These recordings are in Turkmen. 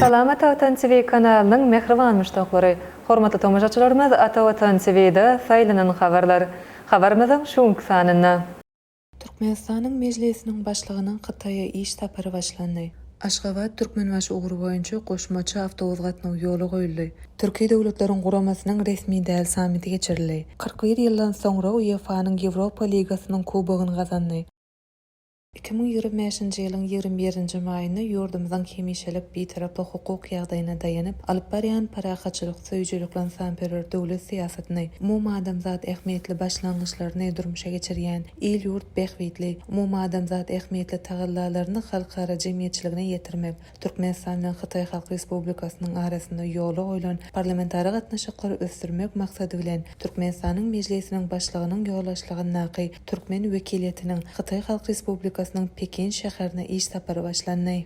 Salama Atavatan TV kanalynyň mähriban muşdaklary! Hormatly tomaşaçylarymyz Atavatan TV-da saýlanan habarlar habarymyzyň şu günki sanynda. Türkmenistanyň Mejlisiniň Başlygynyň Hytaýa iş sapary başlandy. Aşgabat, Türkmenbaşy ugry boýunça goşmaça awtobus gatnawy ýola goýuldy. Türki Döwletleriň Guramasynyň resmi däl sammiti geçirildi. Kyrk bir ýyldan soňra UEFA-nyň Ýewropa ligasynyň kubogyny gazandy. Iki müň ýigrimi bäşinji ýylyň ýigrimi birinji maýynda ýurdumyzyň hemişelik Bitaraplyk hukuk ýagdaýyna daýanyp alyp barýan parahatçylyk, Söýüjilik-ynsanperwer döwlet syýasatyny, umumadamzat ähmiýetli başlangyçlaryny durmuşa geçirýän, il-ýurt bähbitli, umumadamzat ähmiýetli tagallalaryny halkara jemgyýetçiligine ýetirmek, Türkmenistan bilen Hytaý Halk Respublikasynyň arasynda ýola goýlan parlamentara gatnaşyklary ösdürmek maksady bilen, Türkmenistanyň Mejlisiniň Başlygynyň ýolbaşçylygyndaky türkmen wekiliýetiniň Hytaý Halk Respublikasynyň Pekin şäherine iş sapary başlandy.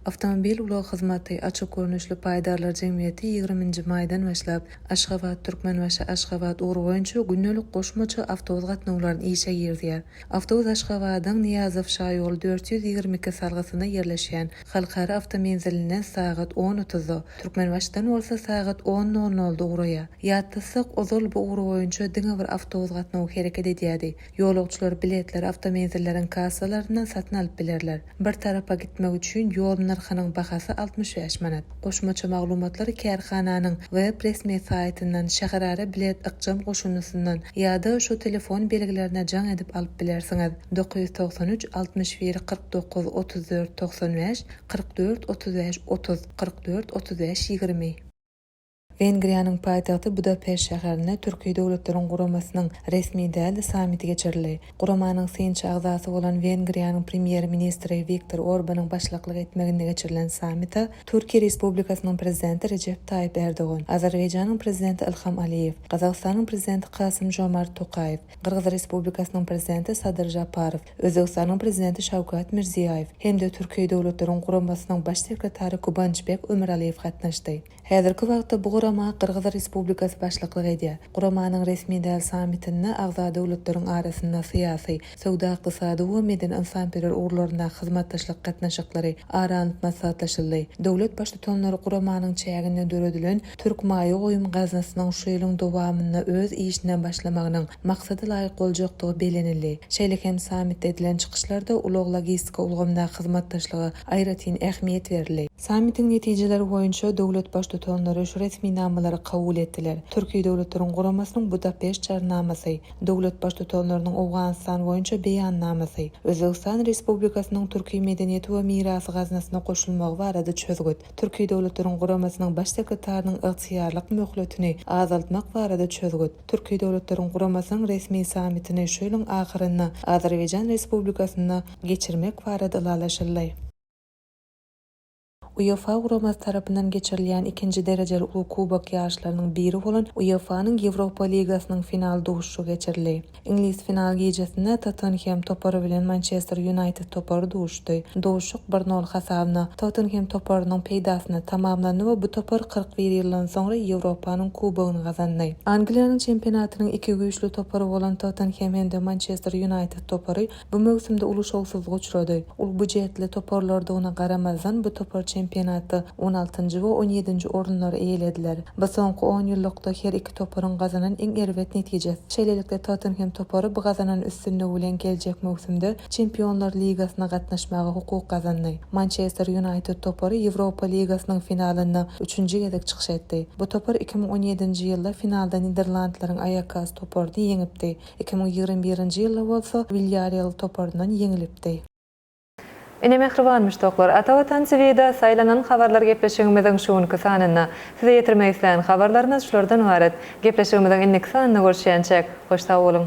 Awtomobil ulag hyzmaty açyk görnüşli paýdarlar jemgyýeti ýigrimi nji maýdan başlap, Aşgabat, Türkmenbaşy, Aşgabat ugry boýunça gündelik goşmaça awtobus gatnawlaryny işe girizýär. Awtobus Aşgabadyň Nyýazow şaýoly dört ýüz ýigrimi iki salgysynda ýerleşýän Halkara awtomenzilinden sagat on otuzda, Türkmenbaşdan bolsa sagat on nol nolda ugraýar. Ýatlasak, ozal bu ugry boýunça diňe bir awtobus gatnawy hereket edýärdi. Ýolagçylar biletleri awtomenzilleriň kassalaryndan satyn alyp bilerler. Bir tarapa gitmek üçin ýol nyrhynyň bahasy altmyş bäş manat. Goşmaça maglumatlar kärhananyň web resmi saýtyndan, şäherara bilet ykjam goşundysyndan ýa-da şu telefon belgilerine jaň edip alyp bilersiňiz, dokuz ýüz togsan üç, altmyş bir, kyrk dokuz, otuz dört, togsan bäş, kyrk dört, otuz bäş, otuz, kyrk dört, otuz bäş, ýigrimi. Wengriýanyň paýtagty Budapeşt şäherinde Türki Döwletleriň Guramasynyň resmi däl sammiti geçirildi. Guramanyň synçy agzasy bolan Wengriýanyň Premýer-ministri Wiktor Orbanyň başlyklyk etmeginde geçirilen sammita Türkiýe Respublikasynyň Prezidenti Rejep Taýyp Erdogan, Azerbaýjanyň Prezidenti Ilham Aliýew, Gazagystanyň Prezidenti Kasym-Žomart Tokaýew, Gyrgyz Respublikasynyň Prezidenti Sadyr Žaparow, Özbegistanyň Prezidenti Şawkat Mirziýaýew hem-de Türki Döwletleriň Guramasynyň Baş sekretary Gubançbek Ömüraliýew gatnaşdy. Häzirki wagtda bu gurama Gyrgyz Respublikasy başlyklyk edýär. Guramanyň resmi däl sammitinde agza döwletleriň arasynda syýasy, söwda-ykdysady we medeni-ynsanperwer ugurlaryndaky hyzmatdaşlyk gatnaşyklary ara alnyp maslahatlaşyldy. Döwlet Baştutanlary guramanyň çäginde döredilen Türk maýa goýum gaznasynyň şu ýylyň dowamynda öz işine başlamagynyň maksada laýyk boljakdygy bellenildi. Şeýle hem sammitde edilen çykyşlarda ulag-logistika ulgamyndaky hyzmatdaşlyga aýratyn ähmiýet berildi. Sammitiň netijeleri boýunça döwlet Baştutanlary şu resminamalary kabul etdiler, Türki Döwletleriň Guramasynyň Budapeşt Jarnamasy, döwlet Baştutanlarynyň Owganystan boýunça Beýannamasy, Özbegistan Respublikasynyň Türki medeniýeti we mirasy gaznasyna goşulmagy barada çözgüt, Türki Döwletleriň Guramasynyň Baş sekretarynyň ygtyýarlyk möhletini azaltmak barada çözgüt, Türki Döwletleriň Guramasynyň resmi sammitini şu ýylyň ahyrynda Azerbaýjan Respublikasynda geçirmek barada ylalaşyldy. UEFA guramasy tarapyndan geçirilýän ikinji derejeli uly kubok ýaryşlarynyň biri bolan UEFA-nyň Ýewropa ligasynyň final duşuşygy geçirildi. Iňlis final gijesinde Tottenhem topary bilen Mançester Ýunaýted topary duşdy. Duşuşyk bir nol hasabyna Tottenhem toparynyň peýdasyna tamamlandy we bu topar kyrk bir ýyldan soňra Ýewropanyň kubogyny gazandy. Angliýanyň çempionatynyň iki güýçli topary bolan Tottenhem hem-de Mançester Ýunaýted topary Bu möwsümde uly şowsuzlyga uçrady. Ol býujetli toparlardygyna garamazdan, bu topar çempionatda on altynjy we on ýedinji orunlary eýelediler. Bu soňky onýyllykda her iki toparyň gazanan iň erbet netijesi. Şeýlelikde, Tottenhem topary bu gazanan üstünligi bilen geljek möwsümde Çempionlar ligasyna gatnaşmaga hukuk gazandy. Mançester Ýunaýted topary Ýewropa ligasynyň finalynda üçünji gezek çykyş etdi. Bu topar iki müň on ýedinji ýylda finalda niderlandlaryň Aýakas toparyny ýeňipdi. Iki müň ýigrimi birinji ýylda bolsa Wilýarreal toparyndan ýeňilipdi. Ine mähriban muşdaklar, Ata Watan TV-da saýlanan habarlar gepleşigimiziň şu günki sanynda. Size ýetirmek isleýän habarlarymyz şulardan ybarat. Gepleşigimiziň indiki sanynda görüşýänçäk, hoş sag boluň!